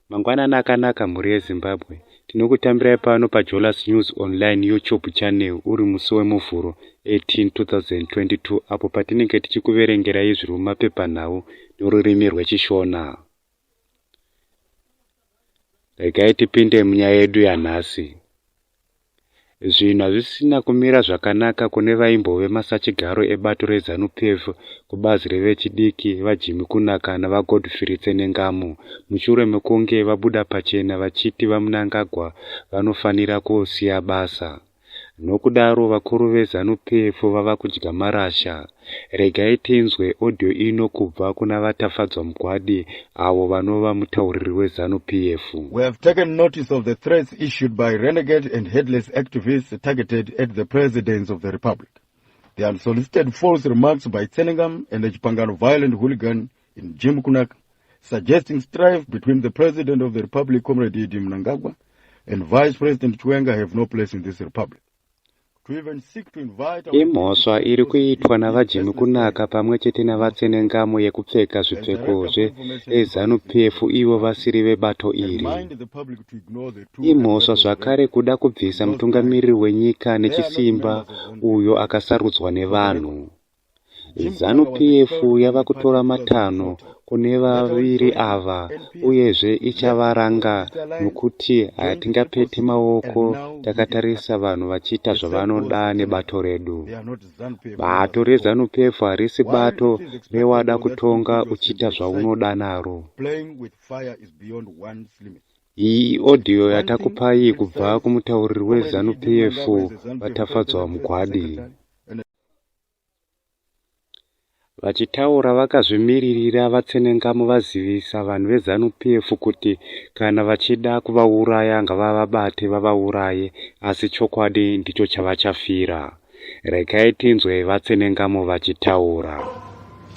Mangwanani akanaka mhuri yeZimbabwe. Tinokutambirai pano paJolas News Online YouTube channel uri musi weMuvhuro 18, 2022 apo patinenge tichikuverengerai zviri mumapepanhau norurimi rweChishona. Regai tipinde munyaya yedu yanhasi. Zvinhu hazvisina kumira zvakanaka kune vaimbove masachigaro ebato reZanu-PF kubazi revechidiki, VaJimmy Kunaka naVaGodfrey Tsenengamu, mushure mekunge vabuda pachena vachiti VaMnangagwa vanofanira kusiya basa. Nokudaro vakuru veZanu-PF vava kudya marasha. Regai tinzwe audio ino kubva kuna VaTafadzwa Mugwadi avo vanova mutauriri weZanu PF. We have taken notice of the threats issued by renegade and headless activists targeted at the presidents of the republic. The unsolicited false remarks by Tsenengam and the Chipangano violent hooligan in Jim Kunak suggesting strife between the president of the republic, Comrade Idi Mnangagwa, and Vice President Chiwenga have no place in this republic. Imhosva iri kuitwa naVaJimmy Kunaka pamwe chete naVaTsenengamu yekupfeka zvipfeko zveZanu PF ivo vasiri vebato iri. Imhosva zvakare kuda kubvisa mutungamiriri wenyika nechisimba uyo akasarudzwa nevanhu. Zanu PF yava kutora matanho kune vaviri ava uyezve ichavaranga nokuti hatingapete maoko takatarisa vanhu vachiita zvavanoda nebato redu. Bato reZanu PF harisi bato rewada kutonga uchiita zvaunoda naro. Iyi audio yatakupai kubva kumutauriri weZanu PF, VaTafadzwa Mugwadi. Vachitaura vakazvimiririra, VaTsenengamu vazivisa vanhu veZanu PF kuti kana vachida kuvauraya ngavavabate vavauraye asi chokwadi ndicho chavachafira. Regai tinzwe VaTsenengamu vachitaura.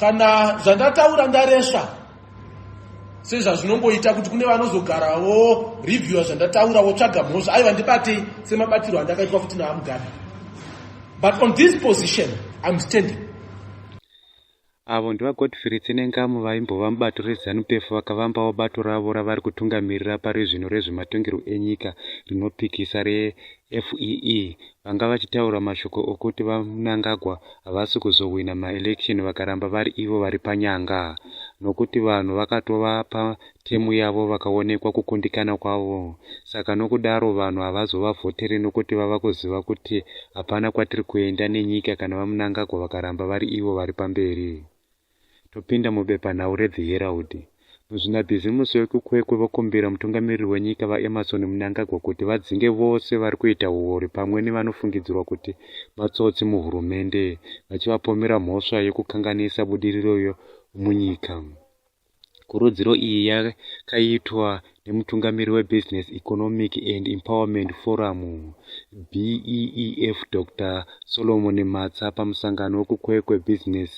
Kana zvandataura ndaresva sezvazvinongoita kuti kune vanozogarawo reviewa zvandataura wotsvaga mhosva aiva ndibatei semabatirwo andakaitwa futi naamugabe but on this position im standing avo ndivagodfrey tsenengamu vaimbova mubato rezanu pf vakavambawo bato ravo ravari kutungamirira pari zvino rezvematongerwo enyika rinopikisa reac FEE vanga vachitaura mashoko okuti VaMnangagwa havasi kuzohwina maelection vakaramba vari ivo vari panyanga nokuti vanhu vakatova pa term yavo vakaonekwa kukundikana kwavo saka nokudaro vanhu havazovavhotere nokuti vava kuziva kuti hapana kwatiri kuenda nenyika kana VaMnangagwa vakaramba vari ivo vari pamberi topinda mubepanhau reThe Herald. Muzvinabhizimusi vekuKwekwe vokumbira mutungamiriri wenyika VaEmmerson Mnangagwa kuti vadzinge vose vari kuita huori pamwe nevanofungidzirwa kuti matsotsi muhurumende vachivapomera mhosva yekukanganisa budiriro munyika. Kurudziro iyi yakaitwa nemutungamiri weBusiness Economic and Empowerment Forum, BEEF, Dr Solomon Matsa pamusangano wekuKwekwe Business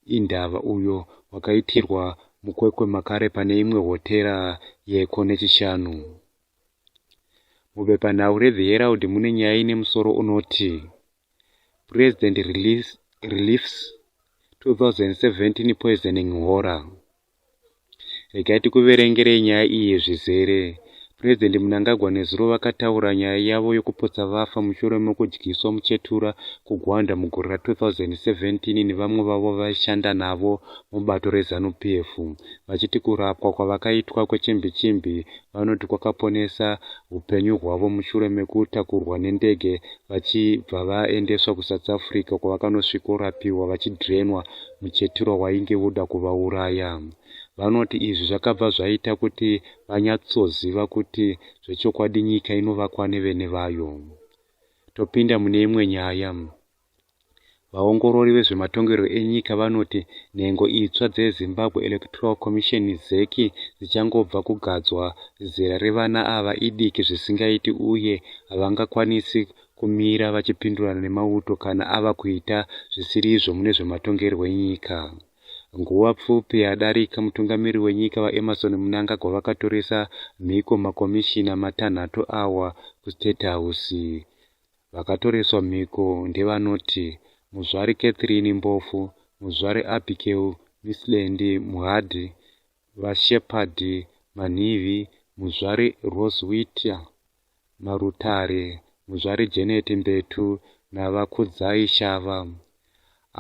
Indava uyo wakaitirwa muKwekwe makare pane imwe hotera yeko neChishanu. Mubepanhau reThe Herald mune nyaya ine musoro unoti President Reliefs 2017 Poisoning Horror. Regai tikuverengerei nyaya iyi zvizere. President Mnangagwa nezuro vakataura nyaya yavo yokupotsa vafa mushure mekudyiswa muchetura kuGwanda mugore ra 2017 nevamwe vavo vaishanda navo mubato reZanu PF vachiti kurapwa kwavakaitwa kwechimbi chimbi vanoti kwakaponesa upenyu hwavo mushure mekutakurwa nendege vachibva vaendeswa kusouth africa kwavakanosvikorapiwa vachidrenwa muchetura wainge woda kuvauraya vanoti izvi zvakabva zvaita kuti vanyatsoziva kuti zvechokwadi nyika inovakwa nevene vayo topinda mune imwe nyaya Vaongorori vezvematongerwo enyika vanoti nhengo itsva dzeZimbabwe Electoral Commission, ZEC, dzichangobva kugadzwa, zera revana ava idiki zvisingaiti uye havangakwanisi kumira vachipindurana nemauto kana ava kuita zvisiri izvo mune zvematongerwo enyika. Nguva pfupi yadarika, mutungamiri wenyika VaEmmerson Mnangagwa vakatoresa mhiko makomishina matanhatu awa kuState House. Vakatoreswa mhiko ndevanoti Muzvare Catherine Mpofu, Muzvare Abigail Misland Mhadi, VaShepherd Manhivi, Muzvare Roswitha Marutare, Muzvare Janet Mbetu naVaKudzai Shava.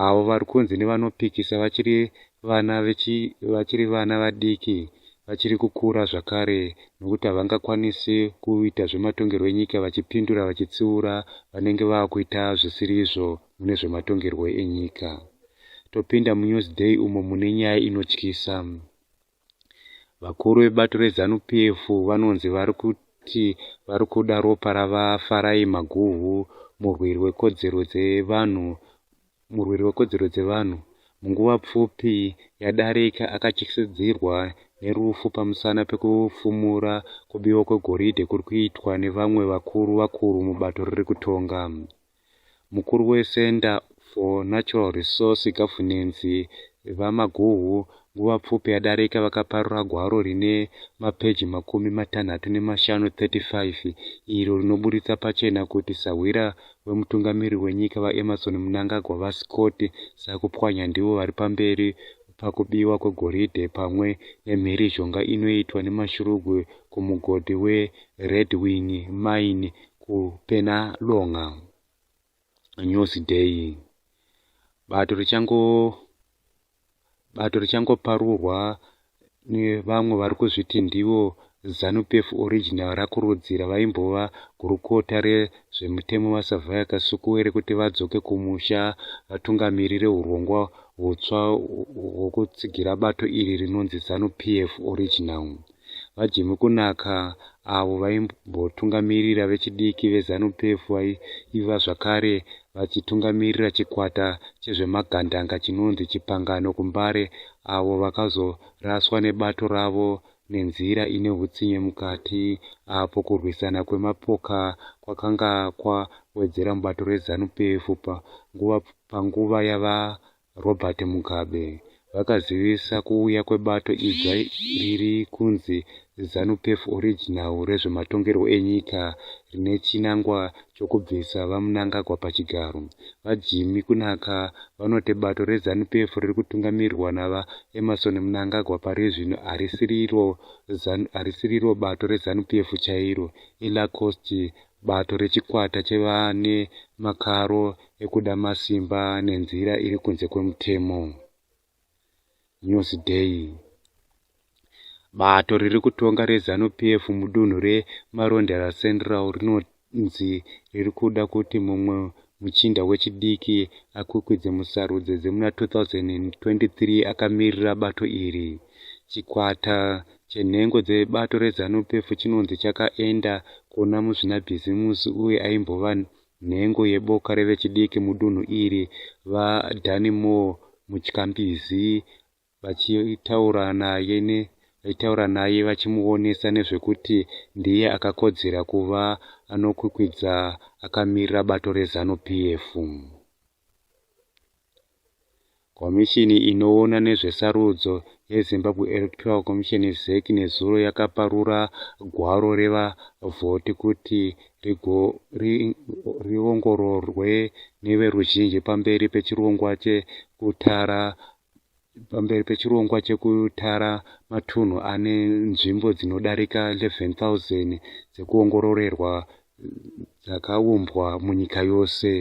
avo vari kunzi nevanopikisa vachiri vana vechi, vachiri vana vadiki vachiri kukura zvakare nokuti havangakwanisi kuita zvematongerwo enyika vachipindura vachitsiura vanenge vakuita zvisiri izvo mune zvematongerwo enyika. Topinda muNewsDay umo mune nyaya inotyisa. Vakuru vebato reZanu PF vanonzi vari kuti vari kuda ropa raVaFarai Maguhu, murwiri wekodzero dzevanhu murwiri wekodzero dzevanhu munguva pfupi yadarika akatyisidzirwa nerufu pamusana pekufumura kubiwa kwegoridhe kuri kuitwa nevamwe vakuru vakuru mubato riri kutonga. Mukuru weCenter for Natural Resource Governance, VaMaguhu, nguva pfupi yadarika vakaparura gwaro rine mapeji makumi matanhatu nemashanu, 35, iro rinoburitsa pachena kuti sahwira wemutungamiriri wenyika, VaEmmerson Mnangagwa, VaScott Sakupwanya ndivo vari pamberi pakubiwa kwegoridhe pamwe nemhirizhonga inoitwa nemashurugwi kumugodhi weRedwing Mine kupena longa news day bato richango bato richangoparurwa nevamwe vari kuzviti ndivo zanupf original rakurudzira vaimbova gurukota rezvemutemo vasavhaya kasuku rekuti vadzoke kumusha vatungamirire urongwa hutsva hwokutsigira bato iri rinonzi zanupf original VaJimmy Kunaka, avo vaimbotungamirira vechidiki veZanu-PF vaiva zvakare vachitungamirira chikwata chezvemagandanga chinonzi Chipangano kuMbare avo vakazoraswa nebato ravo nenzira ine hutsinye mukati apo kurwisana kwemapoka kwakanga kwawedzera mubato reZanu-PF panguva Robert Mugabe, vakazivisa kuuya kwebato idzva riri kunzi Zanu-PF Original rezvematongerwo enyika rine chinangwa chokubvisa VaMnangagwa pachigaro. VaJimmy Kunaka vanoti bato reZanu-PF riri kutungamirirwa naVaEmmerson Mnangagwa pari zvino harisiriro bato reZanu-PF chairo, iLacoste Bato rechikwata chevane makaro ekuda masimba nenzira iri kunze kwemutemo. Newsday. Bato riri kutonga reZanu PF mudunhu reMarondera Central rinonzi riri kuda kuti mumwe muchinda wechidiki akwikwidze musarudzo dzemuna 2023 akamirira bato iri. Chikwata chenhengo dzebato reZanu PF chinonzi chakaenda kuona muzvinabhizimusi uye aimbova nhengo yeboka revechidiki mudunhu iri, VaDannymoore Mutyambizi, vachitaura naye ne vaitaura naye vachimuonesa nezvekuti ndiye akakodzera kuva anokwikwidza akamirira bato reZanu PF. Komishini inoona nezvesarudzo yeZimbabwe Electoral Commission ZEC nezuro yakaparura gwaro revavhoti kuti riongororwe neveruzhinji pamberi pechirongwa chekutara pamberi pechirongwa chekutara matunhu ane nzvimbo dzinodarika 11,000 dzekuongororerwa dzakaumbwa munyika yose.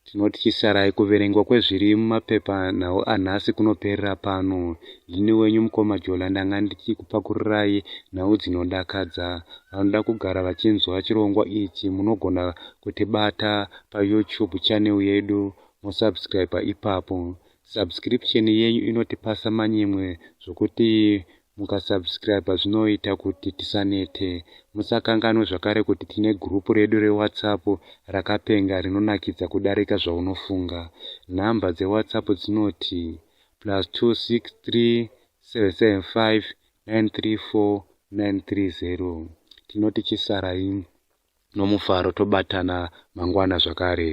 Tinoti chisarai kuverengwa kwezviri mumapepa nhau anhasi kunoperera pano. Ndini wenyu mukoma Jola ndanga ndichikupakururai nhau dzinodakadza. Vanoda kugara vachinzwa chirongwa ichi munogona kutibata payoutube channel yedu mosubscribe ipapo subscription yenyu inotipasa manyemwe zvokuti mukasubscribe zvinoita kuti tisanete musakanganwe zvakare kuti tine gurupu redu rewhatsapp rakapenga rinonakidza kudarika zvaunofunga nhamba dzewhatsapp dzinoti plus 263 775 934 930 tinoti chisarai nomufaro tobatana mangwana zvakare.